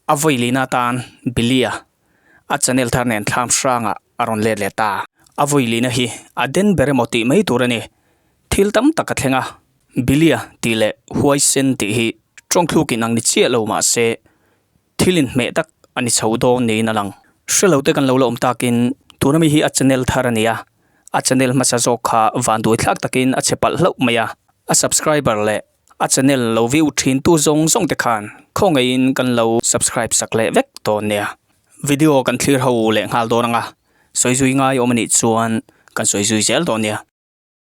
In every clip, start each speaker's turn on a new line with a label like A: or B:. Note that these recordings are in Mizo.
A: A vawi lin atan Billy-a a channel thar nen thlam hrangah a rawn let leh ta. A vawi lina hi a den ber emaw tih mai tur a ni. Thil tam tak a thleng a, Billy-a tih leh huaisen tih hi ṭawngthlukin ang ni chiah lo mah se, Thil inhmeh tak a ni chho dawn niin a lang. Hrelo-te kan lo la awm takin tuna mi hi a channel thar a nia, a channel hmasa zawk kha vanduai thlak takin a chhe palh hlauh mai a, a subscriber leh a channel lo view thintu zawng zawng te khan khawngaihin kan lo subscribe sak leh vek dawn nia. Video kan thlir ho leh nghal dawn anga sawi zui ngai awm a nih chuan kan sawi zui zel dawn nia.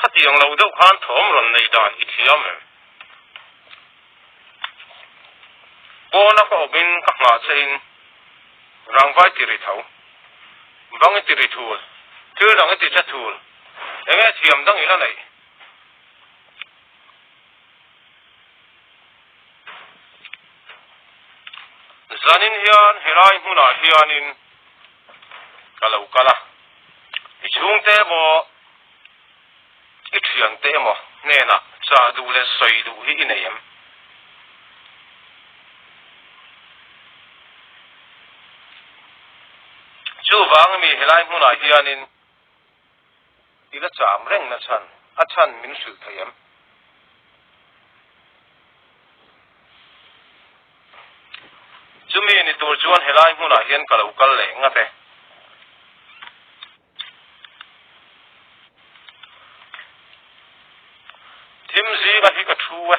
A: Khatiang lo deuh khan thawm rawn nei dan i thiam em? Pawna ka awmin ka nghahchhehin rangvai ti ri tho, bang i ti ri thul, thil dang i ti che thul, enge thiam dang ila neih? Zanin hian helai hmunah hianin. ka lo kal a, i chhungte emaw i thiante emaw hnenah cha duh leh sawi duh hi i nei em? Chuvang mi helai hmunah hianin. ila cham reng na chhan a chhan min hrilh theih em? Chumi ni tur chuan helai hmunah hian ka lo kal leh ngat e. Thim zinga hi ka thu e.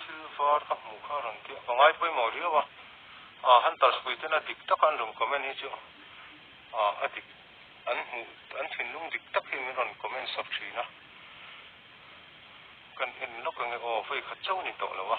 A: Thil var ka hmuh kha rawn ti a ka ngai pawimawh riau a, ah Hunterspui ten a dik tak a an rawn comment hi chu ah a dik an hmuh an thinlung dik tak hi min rawn comment sak thin a kan en lawk enge aw vei khat chauh ni tawh lo a.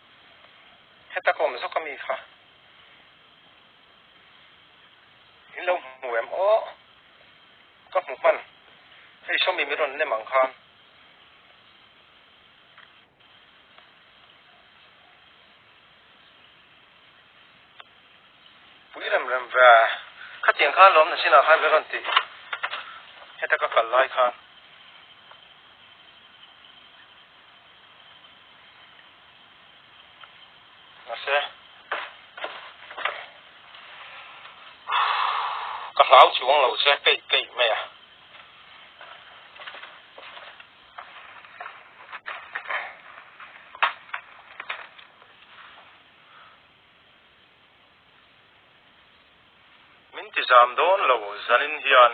A: Heta ka awm zawk a mi kha in lo hmu em aw ka hmu hman hei sawmi min rawn nem ang khan pui rem rem ve khatiang khan lawm na sinah khan min rawn ti heta ka kal lai khan Mase ka hlau chuang lo che kei kei mai a min ti zam dawn lo zanin hian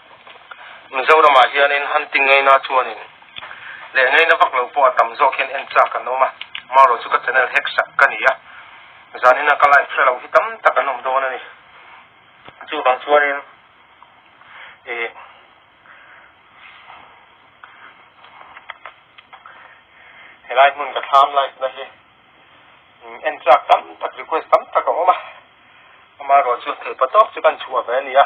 A: Mizoramah hianin hunting ngeina chuanin leh ngeina vak lo pawh a tam zawk hian en chak an awm a, Mauro chu ka channel hack sak ka ni a, zanina ka like hre lo hi tam tak an awm dawn a ni. Chu vang chuanin ih helai hmun ka thlam like na hi en chak tam tak request tam tak a awm a, Mauro chu thei pa tawk chu ka inchhuah ve a ni a.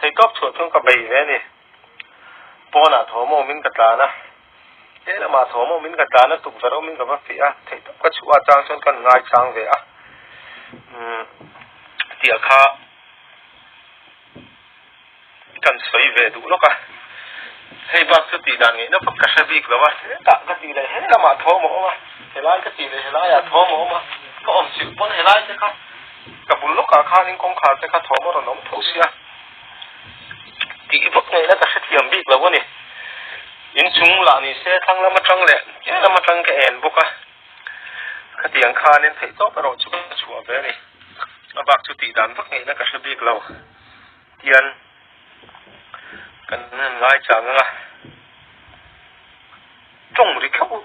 A: Thei tawp chhuah chu ka bei ve a ni. Pawnah thawm awmin ka tlan a. Lehlamah thawm awmin ka tlan a, tukverh awmin ka va feh a. Thei tawp ka chhuah achang chuan ka rawn ngaisang ve a. Umm, tiah kha ka rawn sawi ve duh lawk a. Hei bak chu tih dan ngaihna vak ka hre bik lo a. Hetah ka tih leh helamah thawm a awm a, helai ka tih leh helaiah thawm a awm a, ka awmchhilh pawn helaite kha. Ka bul lawkah khanin kawngkhar te kha thawm a rawn awm tho sia tih vak ngaihna ka hrethiam bik lo a ni. Inchung lah ni se thlang lam atang leh keng lam atang ka en bawk a. Khatiang khanin theih tawp erawh chu ka chhuah ve a ni. A bak chu tih dan vak ngaihna ka hre bik lo. Tian kan han ngaihchang ang a. Tawng ri khauh.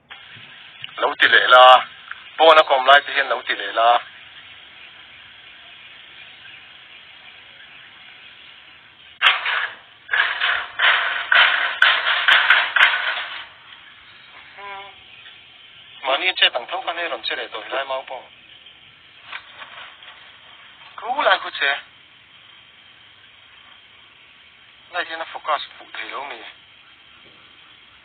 A: Lo ti leh la, pawn a kawm lai te hian lo ti leh la. Mahni chet ang tho khan hei rawn che leh tawh hilai mau pawh. Thu lai khu che. Light hian a focus fuh thei lo mi.